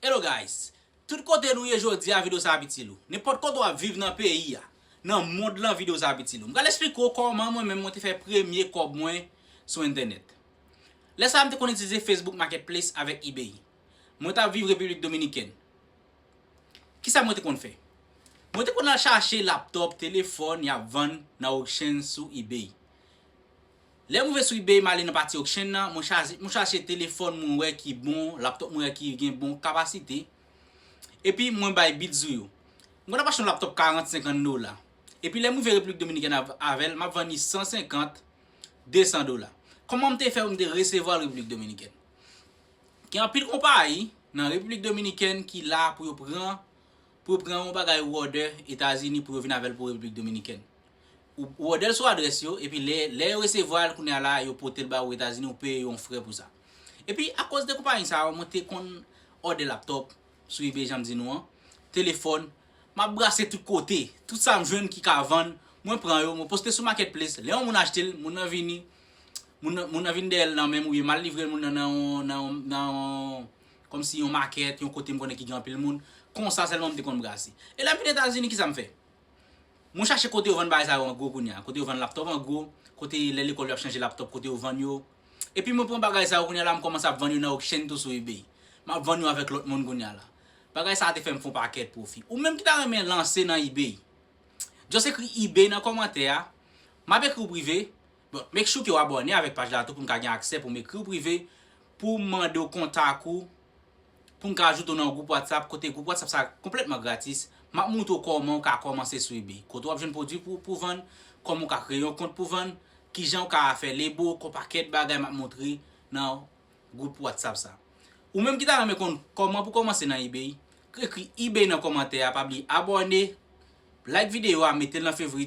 Hello guys! Tout kote nou ye jodia video sa ap itil ou. Nenpòt kote wap viv nan peyi a, nan mond lan video sa ap itil ou. M pral esplike w kòman mwen menm mwen te fè premye kòb mwen sou entènèt. Lè sa a m te konn itilize Facebook Marketplace avèk Ebay. Mwen tap viv Repiblik Dominikèn. Kisa mwen te konn fè? Mwen te konn al chache laptop, telefòn yap vann nan auctions sou Ebay. Lè m rive sou ebay m ale nan pati auction nan, mwen chaje mwen chache telefòn mwen wè ki bon, laptop mwen wè ki gen bon kapasite, epi mwen bay bid sou yo. M konn ap achte yon laptop 40, 50 dola, epi lè m rive Repiblik Dominikèn av avè l m ap vann li 150, 200 dola. Kòman m te fè pou m te resevwa l Repiblik Dominikèn? Gen anpil konpayi nan Repiblik Dominikèn ki la pou yo pran pou yo pran yon bagay ou òdè Etazini pou yo vin avè l pou Repiblik Dominikèn. Ou òdè l sou adrès yo, epi lè lè yo resevwa l kounye a la yo pote l ba ou Etazini ou peye yo yon frè pou sa. Epi akòz de konpayi sa yo mwen te konn òdè laptòp sou ebay jan m di nou an, telefòn, m ap brase tout kote, tout sa m jwenn ki ka vann mwen pran yo mwen poste sou market place, lè yon moun achte l moun nan vini moun nan vin dèyè l nan men m oubyen m al livre l moun nan nan yon kòmsi yon market yon kote m konnen ki gen anpil moun, konsa sèlman m te konn brase. E lè m vin Etazini kisa m fè? Mwen chache kote yo vann bagay sa yo an gwo kounye a, kote yo vann laptop an gwo, kote lè lekòl yo ap chanje laptop kote yo vann yo. Epi mwen pran bagay sa yo kounye a la m kòmanse ap vann yo nan Auction tou sou Ebay. M ap vann yo avèk lòt moun kounye a la. Bagay sa a te fè m fè yon pakèt pwofi. Ou menm ki ta renmen lanse nan Ebay, just ekri Ebay nan kòmantè a, m ap ekri w prive, bon make sure ke w abòne avèk paj la tou pou m ka gen aksè pou m ekri w prive pou m mande w kontak ou pou m ka ajoute w nan yon gwoup WhatsApp kote gwoup WhatsApp sa konplètman gratis, m ap moutre w kòman ou ka kòmanse sou ebay, kote w ap jwenn pwodwi pou pou vann, kòman ou ka kreye yon kont pou vann, kijan ou ka fè lebo, kon pakèt bagay m ap moutre nan gwoup WhatsApp sa. Ou menm ki ta renmen konn kòman pou kòmanse nan ebay, ekri ebay nan kòmantè a, pa bliye abòne, like videyo a, mete l nan fevrit ou.